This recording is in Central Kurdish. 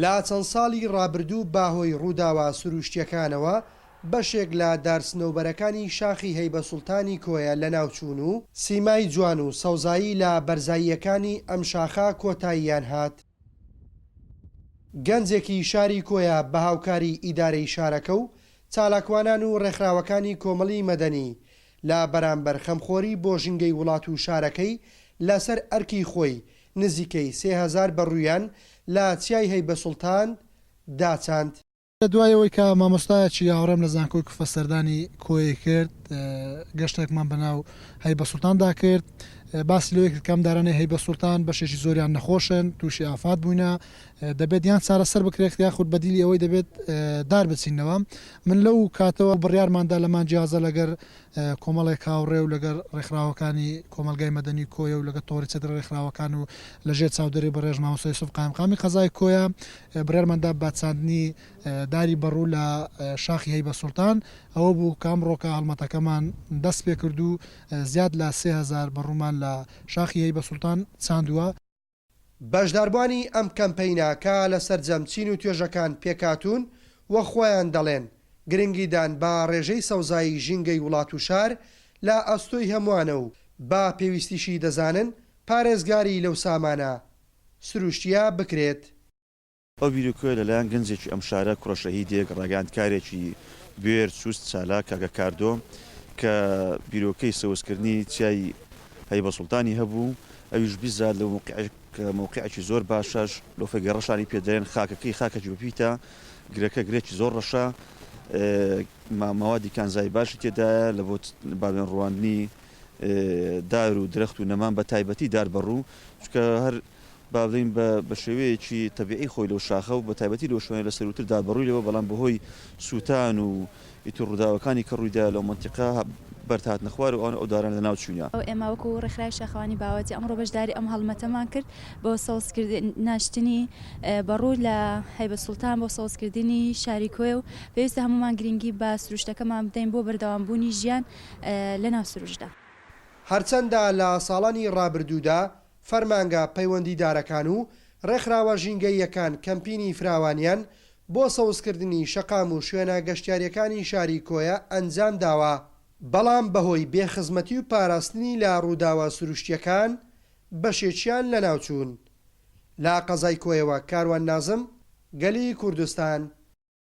لە چەند ساڵی ڕابردوو بە هۆی ڕووداوە سرووشتییەکانەوە بەشێک لە دار سنەوبەرەکانی شاخی هەیبە سوڵتانی کۆیە لەناوچوون و، سیمای جوان و سەوزایی لە بەرزاییەکانی ئەم شاخە کۆتاییان هات. گەنجێکی شاری کۆیە بە هاوکاریی ئیدارەی شارەکە و چالاکوانان و ڕێکخراوەکانی کۆمەڵی مەدەنی لە بەرامبەر خەمخۆری بۆ ژینگەی وڵات و شارەکەی لەسەر ئەرکی خۆی نزیکەی سێ هەزار بەڕوویان لە چیای هەیبە سوڵتان داچاند. لە دوای ئەوەی کە مامۆستایەکی هاوڕێم لە زانکۆی کوفە سەردانی کۆیەی کرد، گەشتێکمان بە ناو هەیبە سوڵتان دا کرد. باسی لەوەی کرد کە ئەم دارانەی هەیبە سوڵتان بەشێکی زۆریان نەخۆشن، تووشی ئافات بووینە، دەبێت یان چارەسەر بکرێت یاخود بەدیلی ئەوەی دەبێت دار بچینەوە. من لەو کاتەوە بڕیارمان دا لە مانگی هازدە لەگەر کۆمەڵێک هاوڕێ و لەگەڵ ڕێکخراوەکانی کۆمەڵگای مەدەنی کۆیە و لەگەڵ تۆڕی چەترە ڕێکخراوەکان و لە ژێر چاودێری بەڕێژ مامۆستا یوسف قایمقامی قەزای کۆیە بڕیارمان دا بە چاندنی داری بەڕوو لە شاخی هەیبە سوڵتان ئەوە بوو کە ئەمڕۆکە هەڵمەتەکەمان دەست پێ کرد و زیاد لە سێ هەزار بەڕوومان لە شاخی هەیبە سوڵتان چاندووە. بەشداربوانی ئەم کەمپەینە کە لە سەرجەم چین و توێژەکان پێکهاتوون و خۆیان دەڵێن، گرنگی دان بە ڕێژەی سەوزایی ژینگەی وڵات و شار لە ئەستۆی هەمووانە و بە پێویستیشی دەزانن پارێزگاری لەو سامانە سروشتییە بکرێت. ئەو بیرۆکەیە لەلایەن گەنجێکی ئەم شارە، کوڕە شەهیدێک، ڕاگەیاندکارێکی بوێر، چوست، چالاک، کاکە کاردۆ، کە بیرۆکەی سەوزکردنی چیای هەیبەسوڵتانی هەبوو، ئەویش بیزاد لەو مەوقیعەی کە مەوقیعێکی زۆر باشە، شلۆفەگە ڕەشانی پێ دەرێن، خاکەکەی خاکێکی بەپیتە، گرەکە گرێکی زۆر ڕەشە، ماوادی کانزایی باشی تێدایە لە بۆ باوێن ڕواندنی دار و درەخت و نەمان، بەتایبەتی دار بەڕوو، چونکە هەر. با بڵێین بە بە شێوەیەکی تەبیعی خۆی لەو شاخە و بە تایبەتی لەو شوێنە لە سەرووتر دا بە ڕووی لەوە بەڵام بە هۆی سووتان و ئیتر ڕووداوەکانی کە ڕووی دا لەو مەنتیقە بەرد هاتنە خوار و ئەو دارانە لە ناو چووینە. ئێمە وەکوو ڕێکخراوی شاخەوانی باوەجی ئەمڕۆ بەشداری ئەم هەڵمەتەمان کرد بۆ سەوز کردن ناشتنی بە ڕوو لە هەیبەت سوڵتان بۆ سەوز کردنی شاری کۆیە و پێویستە هەموومان گرینگی بە سروشتەکەمان بدەین بۆ بەردەوام بوونی ژیان لە ناو سروشتدا. هەرچەندە لە ساڵانی ڕابردوودا فەرمانگە پەیوەندیدارەکان و ڕێکخراوە ژینگەییەکان کەمپینی فراوانیان بۆ سەوزکردنی شەقام و شوێنە گەشتیارییەکانی شاری کۆیە ئەنجامداوە، بەڵام بەهۆی بێ خزمەتی و پاراستنی لە ڕووداوە سروشتییەکان بەشێکیان لەناوچوون. لە قەزای کۆیەوە کاروان نازم، گەلی کوردستان.